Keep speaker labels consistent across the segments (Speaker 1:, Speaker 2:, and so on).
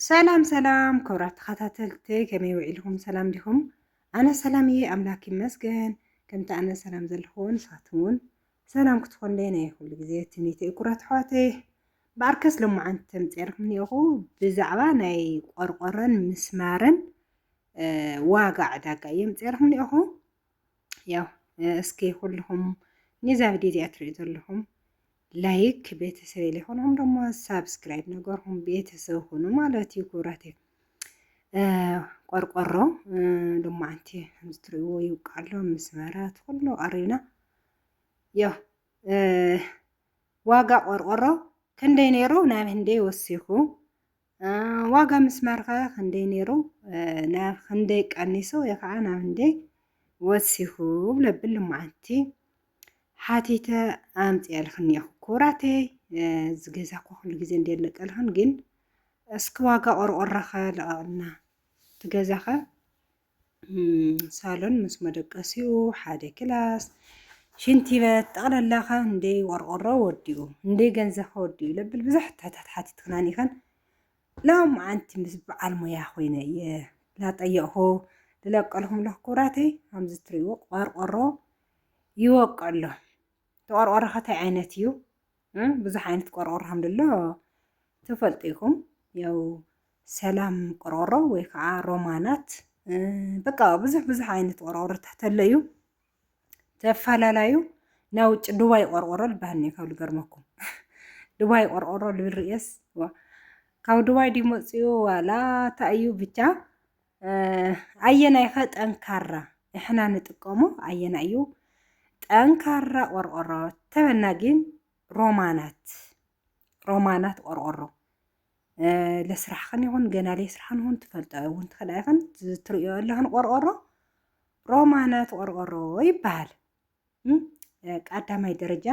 Speaker 1: ሰላም ሰላም ክብራት ተኸታተልቲ ከመይ ውዒልኹም ሰላም ዲኹም? ኣነ ሰላም እየ ኣምላክ ይመስገን። ከምቲ ኣነ ሰላም ዘለኹ ንሳትም እውን ሰላም ክትኾንለይ ናይ ኩሉ ግዜ ትምኒተ እዩ ኩራት ኣሕዋተይ። ብኣርከስ ሎማዓንቲ ተምፅርኩም እኒኦኹ ብዛዕባ ናይ ቆርቆረን ምስማርን ዋጋ ዕዳጋ እየ ምፅርኩም እኒኦኹ። ያው እስኪ ኩልኹም ነዛ ቪድዮ እዚኣ ትሪኡ ዘለኹም ላይክ ቤተሰብ ሊኾንኹም ደሞ ሳብስክራይብ ነገርኹም ቤተሰብ ኹኑ ማለት እዩ ክብራት እዩ ቆርቆሮ ደሞ ኣንቲ ከምዝትሪእዎ ይውቃሎ ምስ መራት ኩሉ ኣሪና ያው ዋጋ ቆርቆሮ ክንደይ ነይሩ ናብ ህንደይ ወሲኹ ዋጋ ምስማር ከ ክንደይ ነይሩ ናብ ክንደይ ቀኒሱ ወይ ከዓ ናብ ክንደይ ወሲኹ ብለብል ልመዓንቲ ሓቲተ ኣምፅኤልክን እኒኹ ክቡራተይ እዚ ገዛ እኮ ኩሉ ግዜ እንደለቀልክን ግን እስኪ ዋጋ ቆርቆሮኸ ለቐቕልና እቲ ገዛኸ ሳሎን ምስ መደቀሲኡ ሓደ ክላስ ሽንቲ በት ጠቕላላ ከ እንደ ቆርቆሮ ወዲኡ እንደ ገንዘብ ከ ወዲኡ ለብል ብዙሕ ትሕታት ሓቲትክና ኒኸን ሎም ዓንቲ ምስ በዓል ሞያ ኮይነ እየ ላጠየቕኹ ዝለቀልኩም ኣለኹ ኩራተይ ከምዚ ትሪእዎ ቆርቆሮ ይወቅዕ ኣሎ ተቆርቆሮ ከታይ ዓይነት እዩ ብዙሕ ዓይነት ቆርቆሮ ከምደሎ ትፈልጡ ኢኹም ያው ሰላም ቆርቆሮ ወይ ከዓ ሮማናት በቃ ብዙሕ ብዙሕ ዓይነት ቆርቆሮታት ተለዩ ተፈላለዩ ናይ ውጭ ዱባይ ቆርቆሮ ልበሃል እኒኦ ካብ ልገርመኩም ዱባይ ቆርቆሮ ልብል ርእየስ ካብ ዱባይ ድዩ መፅኡ ዋላ እንታይ እዩ ብቻ ኣየናይ ኸ ጠንካራ ንሕና ንጥቀሞ ኣየና እዩ ጠንካራ ቆርቆሮ ተበና ግን ሮማናት ሮማናት ቆርቆሮ ለስራሕኽን ይኹን ገና ለስራሕን ይኹን ትፈልጦ እውን ትኽእላ ይኹን ትርእዮ ኣለኽን ቆርቆሮ ሮማናት ቆርቆሮ ይበሃል። ቀዳማይ ደረጃ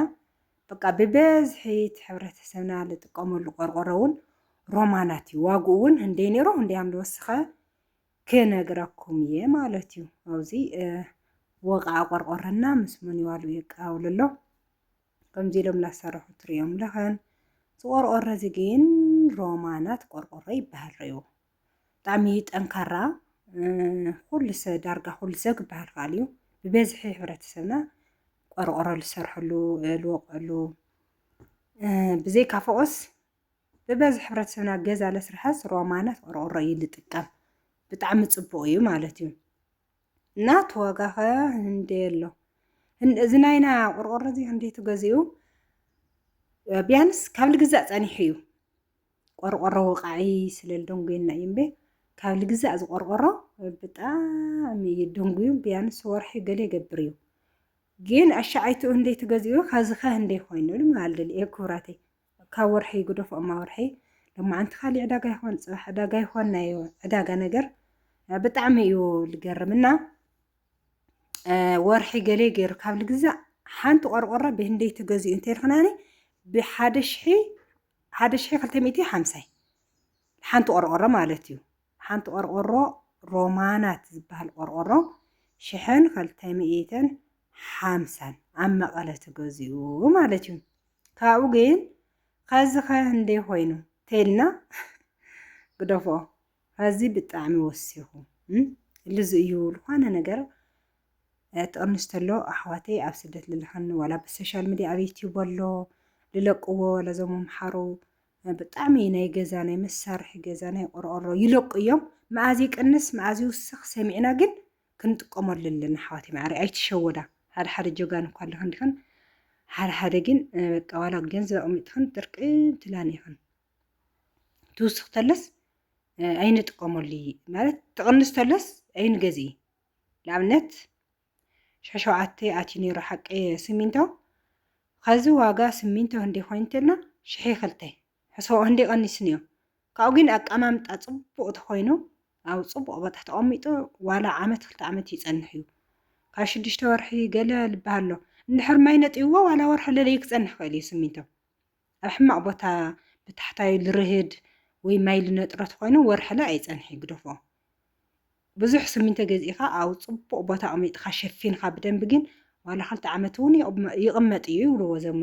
Speaker 1: በቃ ብበዝሒ እቲ ሕብረተሰብና ዝጥቀመሉ ቆርቆሮ እውን ሮማናት እዩ። ዋግኡ እውን ህንደይ ነይሩ ህንደይ ኣም ዝወሰኸ ክነግረኩም እየ ማለት እዩ። ኣብዚ ወቃ ቆርቆሮና ምስ መን ይዋሉ የቀባብሉ ኣሎ ከምዚ ኢሎም እናሰርሑ ትርእዮም ለኸን ዝቆርቆረ እዚ ግን ሮማናት ቆርቆሮ ይበሃል ረዩ ብጣዕሚ ጠንካራ ኩሉ ሰብ ዳርጋ ኩሉ ሰብ ክበሃል ከኣል እዩ ብበዝሒ ሕብረተሰብና ቆርቆሮ ዝሰርሐሉ ዝወቅዕሉ ብዘይካ ፎቆስ ብበዝሒ ሕብረተሰብና ገዛ ለስርሐስ ሮማናት ቆርቆሮ እዩ ዝጥቀም ብጣዕሚ ፅቡቅ እዩ ማለት እዩ እናት ዋጋኸ እንዴ ኣሎ እዚ ናይና ቆርቆሮ እዚ ክንደይ ትገዝኡ ቢያንስ ካብ ልግዛእ ጸኒሑ እዩ ቆርቆሮ ወቃዒ ስለ ልደንጉየና እዩ እምበ ካብ ልግዛእ እዚ ቆርቆሮ ብጣዕሚ እዩ ደንጉዩ ቢያንስ ወርሒ ገለ ይገብር እዩ ግን ኣሻዓይትኡ እንዴ ትገዝኡ ካብዚ ከ እንዴ ኮይኑ ማለት ደልየ ክብራተይ ካብ ወርሒ ጉዶፍ ኣማወርሒ ሎማዓንቲ ካሊእ ዕዳጋ ይኮን ፅባሕ ዕዳጋ ይኮን ናይ ዕዳጋ ነገር ብጣዕሚ እዩ ልገርም እና ወርሒ ገሌ ገይሩ ካብ ልግዛእ ሓንቲ ቆርቆራ ብህንደይ ትገዝኡ እንተልክናኒ ብሓደ ሽሒ ሓደ ሽሒ ክልተ ሚእቲ ሓምሳይ ሓንቲ ቆርቆሮ ማለት እዩ ሓንቲ ቆርቆሮ ሮማናት ዝበሃል ቆርቆሮ ሽሕን ክልተ ሚእትን ሓምሳን ኣብ መቐለ ትገዝኡ ማለት እዩ ካብኡ ግን ኸዚ ከ እንዴ ኮይኑ ተይልና ግደፎ ኸዚ ብጣዕሚ ወሲኹ ልዚ እዩ ዝኾነ ነገር ጥቕንሽ ተሎ ኣሕዋተይ ኣብ ስደት ልልኸኒ ዋላ ብሶሻል ሚድያ ኣብ ዩትዩብ ኣሎ ልለቅዎ ዋላ ዞም ኣምሓሩ ብጣዕሚ ናይ ገዛ ናይ መሳርሒ ገዛ ናይ ቆርቆሮ ይለቁ እዮም መኣዝ ይቅንስ መኣዝ ይውስኽ ሰሚዕና ግን ክንጥቀመሉ ኣለና ኣሕዋተይ ማዓረይ ኣይትሸወዳ ሓደ ሓደ ጀጋኑ እኳ ኣለክን ዲክን ሓደ ሓደ ግን በቃ ዋላ ገንዘብ ኣቕሚጥክን ጥርቅም ትላን ኢኽን ትውስኽ ተለስ ኣይንጥቀመሉ ማለት ትቕንስ ተለስ ኣይንገዝኢ ንኣብነት ሸሸውዓተ ኣትዩ ነይሩ ሓቂ ስሚንቶ ከዚ ዋጋ ስሚንቶ እንዲ ኮይኑ እንተልና ሽሒ ክልተ ሕሰቦ እንዲ ቀኒስን እዮም ካብኡ ግን ኣቀማምጣ ጽቡቕ ተኾይኑ ኣብ ጽቡቕ ቦታ ተቐሚጡ ዋላ ዓመት ክልተ ዓመት ይጸንሕ እዩ። ካብ ሽዱሽተ ወርሒ ገለ ዝበሃል ኣሎ። እንድሕር ማይ ነጢብዎ ዋላ ወርሒ ለለዩ ክጸንሕ ይኽእል እዩ ስሚንቶ። ኣብ ሕማቕ ቦታ ብታሕታዩ ልርህድ ወይ ማይ ልነጥሮ ተኾይኑ ወርሕለ ኣይጸንሕ እዩ ግደፎ። ብዙሕ ስሚንቶ ገዚእኻ ኣብ ጽቡቕ ቦታ ኣቕሚጥኻ ሸፊንኻ ብደንቢ ግን ዋላ ክልተ ዓመት እውን ይቕመጥ እዩ ይብልዎ እዞም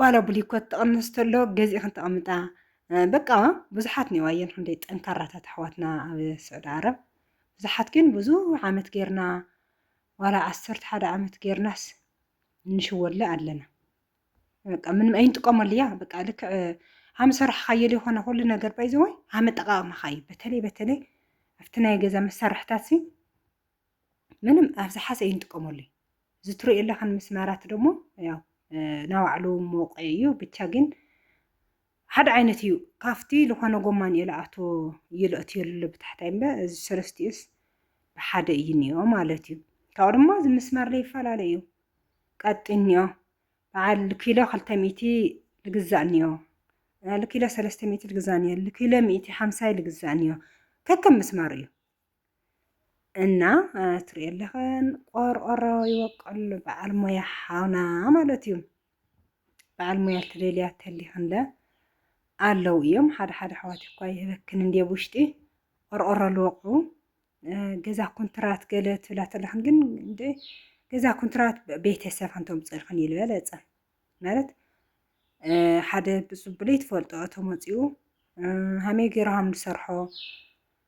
Speaker 1: ዋላ ብሊኮት ተቐንስ ተሎ ገዚእኽን ተቐምጣ በቃ ብዙሓት ነዋየን ክንደይ ጠንካራታት ኣሕዋትና ኣብ ስዑዲ ዓረብ ብዙሓት ግን ብዙሕ ዓመት ጌርና ዋላ ዓሰርተ ሓደ ዓመት ጌርናስ እንሽወለ ኣለና በቃ ምንም ኣይንጥቀመሉ እያ በቃ ልክዕ ሃም ሰራሕካዮ ዝኾነ ኩሉ ነገር ባይዘወይ ሃም ኣጠቃቅማካዩ በተለይ በተለይ ኣብቲ ናይ ገዛ መሳርሕታት ሲ ምንም ኣብ ዝሓሰ እዩ ንጥቀመሉ እዚ ትሪኦ ኣለኻን ምስማራት ደሞ ያው ናባዕሉ ሞቀ እዩ ብቻ ግን ሓደ ዓይነት እዩ ካብቲ ዝኾነ ጎማን እየ ለኣቶ ይለእትዮ ኣሎ ብታሕታይ እምበ እዚ ሰለስቲኡስ ብሓደ እዩ እኒኦ ማለት እዩ ካብኡ ድማ እዚ ምስማር ዘይፈላለ እዩ ቀጢ እኒኦ በዓል ኪሎ ክልተ ሚእቲ ልግዛእ እኒኦ ልኪሎ ሰለስተ ሚእቲ ልግዛእ እኒኦ ልኪሎ ሚእቲ ሓምሳይ ልግዛእ እኒኦ ከከም ምስማር እዩ እና ትሪኦ ኣለኸን ቆርቆሮ ይወቀሉ በዓል ሞያ ሓውና ማለት እዩ በዓል ሞያ ትደልያ ተሊኽንለ ኣለዉ እዮም ሓደ ሓደ ኣሕዋት እኳ ይህበክን እንዲ ኣብ ውሽጢ ቆርቆሮ ልወቁ ገዛ ኩንትራት ገለ ትብላ ተለኽን ግን እንደ ገዛ ኩንትራት ቤተሰብ ሓንቶም ፀልኽን እዩ ዝበለፀ ማለት ሓደ ብፅቡለይ ትፈልጦ ተመፅኡ ሃመይ ገይሮም ዝሰርሖ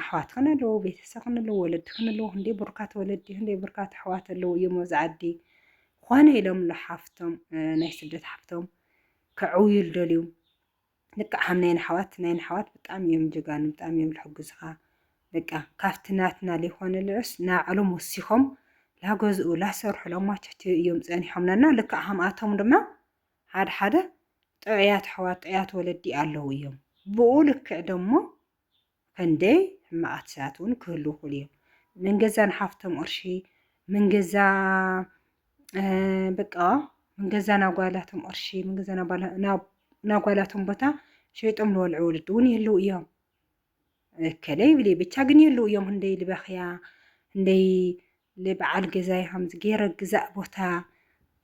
Speaker 1: ኣሕዋት ክን ኣለዎ ቤተሰ ክን ኣለዎ ወለዲ ክን ኣለዎ ክንደይ ብርካት ወለዲ ክንደይ ብርካት ኣሕዋት ኣለዎ እዮም ኣብዚ ዓዲ ኾነ ኢሎም ሓፍቶም ናይ ስደት ሓፍቶም ከዕውዩ ልደልዩ ልክዕ ከም ናይ ኣሕዋት ናይ ኣሕዋት ብጣዕሚ እዮም ጀጋኑ ብጣዕሚ እዮም ልሕግዙኻ በቃ ካብቲ ናትና ዘይኮነ ልዑስ ናዕሎም ወሲኾም ላገዝኡ ላሰርሑ ላማቸትዩ እዮም ፀኒሖምናና ልክዕ ከምኣቶም ድማ ሓደ ሓደ ጥዑያት ኣሕዋት ጥዑያት ወለዲ ኣለዉ እዮም ብኡ ልክዕ ደሞ ከንደይ ሕማቓት ሰባት እውን ክህሉ ይኽእሉ እዮም። መንገዛ ንሓፍቶም ቕርሺ መንገዛ በቃ መንገዛ ናጓላቶም ቕርሺ መንገዛ ናጓላቶም ቦታ ሸይጦም ልወልዑ ወለዲ እውን ይህልው እዮም። እከለ ይብል ብቻ ግን የሉ እዮም እንደይ ልበኽያ እንደይ ልበዓል ገዛ ይሃምዝ ገይረ ግዛእ ቦታ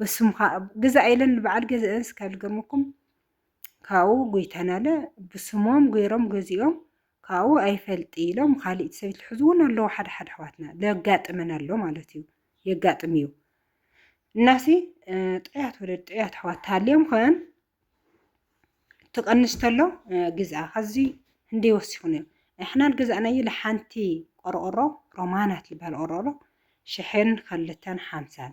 Speaker 1: በስምኻ ግዛእ ኢለን ንበዓል ገዛአን ስካብ ልገርመኩም ካብኡ ጎይታናለ ብስሞም ገይሮም ገዚኦም ካብኡ ኣይፈልጥ ኢሎም ካሊእት ሰበይት ልሕዙ እውን ኣለዉ ሓደ ሓደ ኣሕዋትና ለጋጥመን ኣሎ ማለት እዩ የጋጥም እዩ እናሲ ጥዑያት ወለድ ጥዑያት ኣሕዋት ተሃልዮም ኸን ትቐንስ ተሎ ግዝኣ ከዚ እንደ ወሲኹን እዮም ንሕናን ገዛእናዩ ለሓንቲ ቆርቆሮ ሮማናት ዝበሃል ቆርቆሮ ሽሕን ክልተን ሓምሳን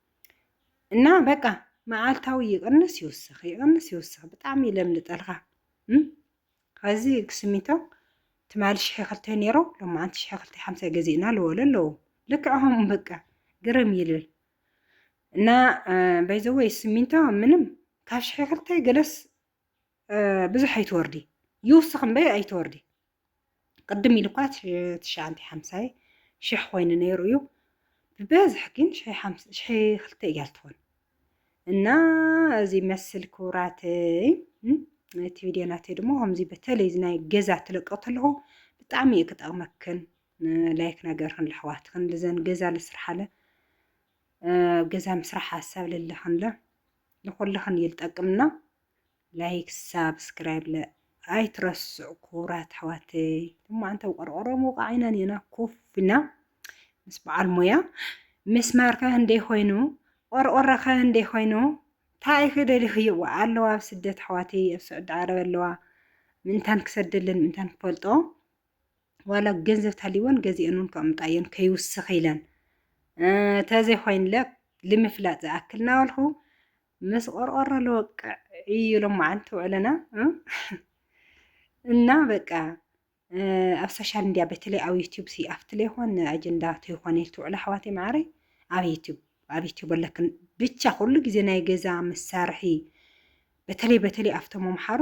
Speaker 1: እና በቃ መዓልታዊ ይቕንስ ይውስኽ ይቕንስ ይውስኽ ብጣዕሚ እዩ ለምልጠልካ ከዚ ክስሚቶ ትማሊ ሽሕ ክልተ ነይሮ ሎማዓንቲ ሽሕ ክልተ ሓምሳ ገዚእና ልበሉ ኣለዉ ልክዕኹም በቃ ግርም ይልል እና በይዘወይ ስሚንቶ ምንም ካብ ሽሕ ክልተ ገለስ ብዙሕ ኣይትወርዲ ይውስኽ እምበይ ኣይትወርዲ ቅድም ኢሉ እኳ ትሽዓንተ ሓምሳይ ሽሕ ኮይኑ ነይሩ እዩ ብበዝሕ ግን ሽሕ ክልተ እያ ትኾን እና እዚ መስል ክብራተይ እቲ ቪድዮ ናተይ ድማ ከምዚ በተለይ እዚ ናይ ገዛ ትለቀ ተለኹ ብጣዕሚ እዩ ክጠቕመክን ላይክ ነገርክን ለሕዋትክን ልዘን ገዛ ልስርሓለ ገዛ ምስራሕ ሓሳብ ለለኽንለ ንኩላክን እዩ ልጠቅም እና ላይክ ሳብስክራይብ ለ ኣይትረስዑ ክቡራት ኣሕዋተይ ሎማዓንተ ቆርቆሮ ምውቃዕ ኢና ኔና ኮፍ ኢልና ምስ በዓል ሞያ ምስማር ከ እንዴ ኮይኑ ቆርቆሮ ከ እንዴ ኮይኑ እንታይ ኢኺ ደሊኽዮ ኣለዋ ኣብ ስደት ኣሕዋተይ ኣብ ስዑዲ ዓረብ ኣለዋ ምእንታን ክሰደለን ምእንታን ክፈልጦ ዋላ ገንዘብ ተሃልይወን ገዚኦን እውን ከቕምጣ እየን ከይውስኽ ኢለን ተዘይኮይንለ ልምፍላጥ ዝኣክል ናበልኩ ምስ ቆርቆሮ ልወቅዕ እዩ ሎማዓንቲ ውዕለና እና በቃ ኣብ ሶሻል ሚዲያ በተለይ ኣብ ዩቲዩብ ሲ ኣብቲ ለይኮን ኣጀንዳ ተይኮነ ኢል ትውዕላ ኣሕዋተይ ማዕረይ ኣብ ዩቲዩብ ኣብ ዩቲዩብ ኣለክን ብቻ ኩሉ ግዜ ናይ ገዛ መሳርሒ በተለይ በተለይ ኣብቶም ኣምሓሩ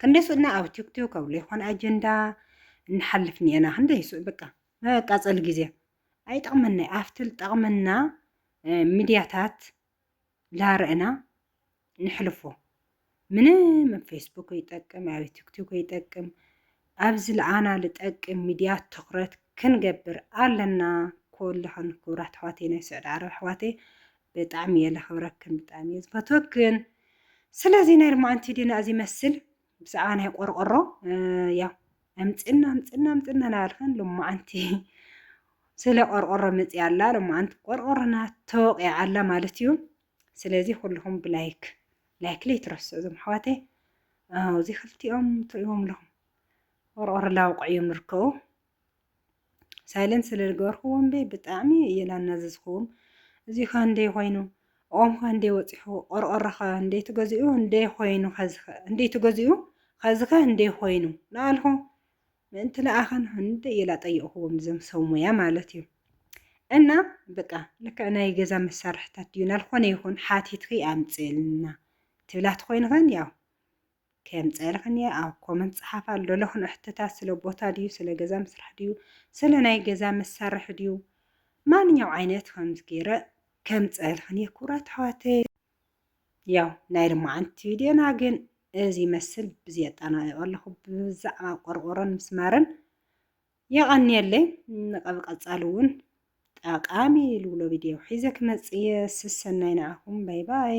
Speaker 1: ክንደይ ሱእና ኣብ ቲክቶክ ኣብ ዘይኮነ ኣጀንዳ ንሓልፍ ኒኤና ክንደይ ሱእ በቃ መቃፀሊ ግዜ ኣይጠቕመና ኣብቲ ዝጠቕመና ሚድያታት ላረእና ንሕልፎ ምንም ፌስቡክ ይጠቅም ኣብ ቲክቶክ ይጠቅም ኣብ ዝልኣና ልጠቅም ሚድያ ትኩረት ክንገብር ኣለና ኩሉክን ኩቡራት ኣሕዋተይ ናይ ሱዕዲ ዓረብ ኣሕዋተይ ብጣዕሚ እየ ለክብረክን ብጣዕሚ እየ ዝፈትወክን ስለዚ ናይ ልማዓንቲ ዲና እዚ መስል ብዛዕባ ናይ ቆርቆሮ ያው ኣምፅና ኣምፅና ኣምፅና ናበልክን ልማዓንቲ ስለ ቆርቆሮ መፅያ ኣላ ልማዓንቲ ቆርቆሮና ተወቂዓ ኣላ ማለት እዩ ስለዚ ኩሉኹም ብላይክ ላይክ ለይትረስዑ እዞም ኣሕዋተይ ኣው እዚ ክልቲኦም ትርእዎም ኣለኹም ቆርቆሮ ላውቕዕ እዮም ዝርከቡ ሳይለንት ስለ ዝገበርክዎም በይ ብጣዕሚ እየ ላናዘዝክዎም እዚ ኸ እንደይ ኮይኑ ኦም ኸ እንደይ ወፂሑ ቆርቆሮ ኸ እንደይ ትገዚኡ እንደይ ኮይኑ ኸዚ ኸ እንደይ ትገዚኡ ኸዚ ኸ እንደይ ኮይኑ ንኣልኹ ምእንቲ ለኣኸን ህንድ ኢላ ጠየቕኹዎም እዞም ሰብ ሞያ ማለት እዩ እና በቃ ልክዕ ናይ ገዛ መሳርሕታት ድዩ ናልኾነ ይኹን ሓቲትኪ ኣምፅልና ትብላት ኮይንኸን ያው ከምፀልኽን እየ ኣብ ኮመንት ፀሓፍ ኣሎ ለኹን እሕትታት ስለ ቦታ ድዩ ስለ ገዛ ምስራሕ ድዩ ስለ ናይ ገዛ መሳርሒ ድዩ ማንኛው ዓይነት ከምዝገይረ ከምፀልኽን እየ ክቡራት ኣሕዋተይ ያው ናይ ርማዓንቲ ቪድዮና ግን እዚ ይመስል ብዚ ኣጠናቂቆ ኣለኹ ብዛዕባ ቆርቆሮን ምስማርን የቐንየለይ ንቐብ ቀጻሊ እውን ጠቃሚ ልብሎ ቪድዮ ሒዘ ክመጽእ እየ ስሰናይ ንዓኹም ባይ ባይ